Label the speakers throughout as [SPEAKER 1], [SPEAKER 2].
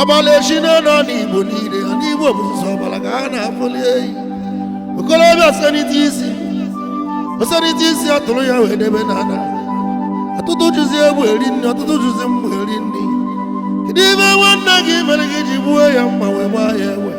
[SPEAKER 1] ọbala esi na ani igbo niile ani igbo bụ sọ ọbala ka a na-afụli eyi okolobịa senite isi osenite isi a tụrụ ya wee debe n'ana ọtụtụ jizi egwu eri nri ọtụtụ jizi mgbu eri nri kedu ife nwanne gị mere gị ji gbuo ya mma wee gbaa ya egbe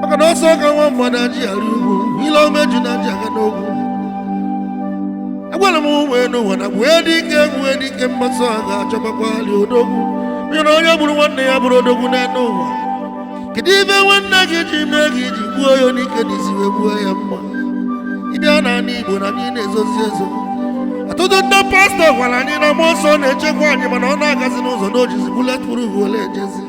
[SPEAKER 1] maka na ọsọ ka nwa mmadụ aji arị ugwu ile ọma ejuna ji aga n'ogwu agwara m ụmụ enu ụwa na egbuwe dike egbuwe dike mbọsị a ga-achọbakwali odogwu onye na onye gburu nwanne ya abụrọ odogwu n'enu ụwa kedu ife nwanne gị ji mee gị i ji gbuo ya anyike n'isi wee gbuo ya mma ị bịa na ani igbo na anyị niine ezozi ezo ọtụtụ ndị pastọ gwara anyị na mmụọ nsọ na-echekwa anyị mana ọ na-agazi n'ụzọ na o jizi bullet proof wele ejezi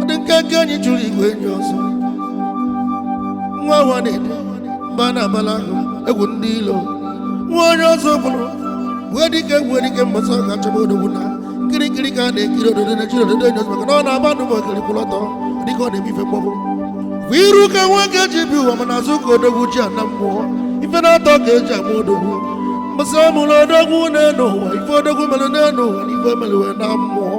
[SPEAKER 1] adị nkenke enyi chụrụ igwe enyi ọsọ nwa nwa na-ede mba a na-abala agụ egwu ndị ilo nwa onye ọzọ bụrụ egbuwe dike egbuwe dike mbọsị a ga-achọba odogwu na kirikiri ka a na-ekiri ododo na ejirọ ododo eni ozu maka na ọ na-aba n'ọgbọ okiri kwụrụ ọtọ dịka ọ na-eme ife mgbọbụ bụ iru ka nwoke ji abịa ụwa mana azụ ka odogwu ji ana mmụọ ife naatọ ka eji ama odogwu mbọsị a mụrụ odogwu n'enu ụwa ife odogwu mere n'enu ụwa na ife o mere wee naa mmụọ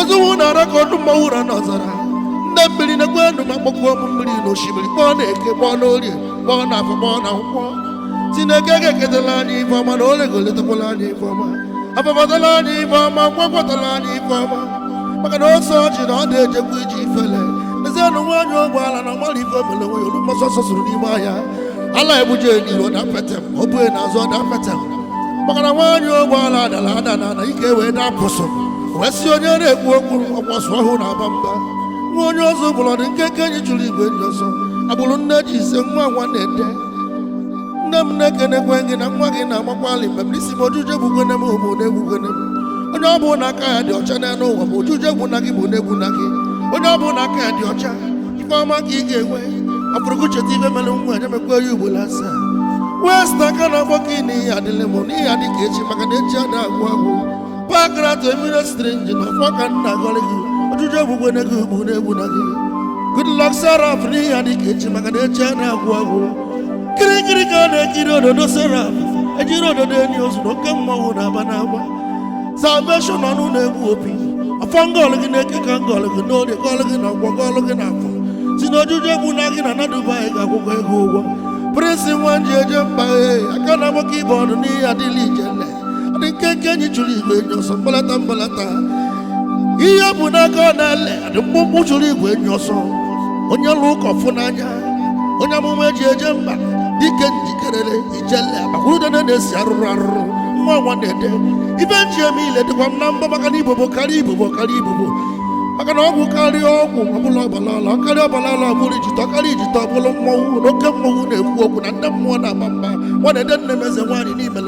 [SPEAKER 1] ozuwu na-ara ka ọdụm ama ụra n'ọzara ndị mmiri nekwenụ m akpọkuo mmiri na osimiri kpọọ na eke kpọọ na orie kpọọ na afọ kpọọ na nkwọ sị na eke ga-eketala anyị ife ọma na olie ga-elitakwala anyị ife ọma afọ afọtala anyị ife ọma nkwọ akwọtala anyị ife ọma maka na ose ọjị na ọ na-ejekwa ije ifele ezianụ nwaanyị ogbo ala na ọ marọ ife o mele wee lue mbọsị ọsọ sụrụ n'ime ahịa ala ebuje n'iru ọ da petem o buje n'azụ ọ da petem maka na nwaanyị ogbo ala adala ada na ana ike wee dapụsụ wee sị onye na-ekwu okwu ọkwasu ọhụụ na aba mba nwa onye ọzọ bụlụ adị nkenke enyi chụrụ igwe enyi ọsọ agbụrụ nne ji ise nwa nwa na-ede nne m na-ekenekwe gị na nwa gị na-agbakwalị mgbe m n'isi m oji uje egbukwene m obu ụna egbukwene m onye ọ bụla aka ya dị ọcha n'enu ụwa ma oji uje egbuna gị obu ụna egbuna gị onye ọ bụla aka ya dị ọcha ife ọma ka ị ga-enwe afụrụgụ cheta ife mere nwa ya emekwa ya ugboro asaa wee sị na aka na-akpọ gị n'ihe adịlị m n'ihe adị ka echi maka na echi ada agwụ agwụ Pankrat Emiro Strange na ọfọ ka m na-agọrị gị oji uje egbukwene gị obu ụna egbuna gị Good luck Saraf n'ihe adị ka echi maka na echi ada agwụ agwụ kirikiri ka a na-ekiri ododo Saraf ejirọ ododo eni ozu na oke mmanwụ na-aba n'ọgbọ Salvation ọnụ na-egbu opi ọfọ m gọlụ gị na eke ka m gọlụ gị n'orie gọlụ gị na nkwọ gọlụ gị na afọ si na oji uje egbuna gị na na dubai ga-akwụkwa gị ụgwọ Prince nwa eji eje mba ee aka na nwoke ibe ọdụ n'ihe adịla ijele dị nkenke enyi chụrụ igwe enyi ọsọ mgbalata mgbalata ihe ọ bụ n'aka ọ na-ele dị mkpụmkpụ chụrụ igwe enyi ọsọ onye lụ ụka ọ fụ n'anya onye amụma eji eje mba dike njikerere ijele akwụrụdene na-esi arụrụ arụrụ nwa nwa na-ede ibe nji eme ile dịkwa m na mbọ maka na ibobo karịa ibobo karịa ibobo maka na ọgwụ karịa ọgwụ ọbụla ọbala ala karịa ọbala ala ọbụla ijite ọ karịa ijite ọbụla mmọnwụ na oke mmọnwụ na-ekwu okwu na ndị mmụọ na-aba mba nwa na-ede nne m eze nwaanyị n'ime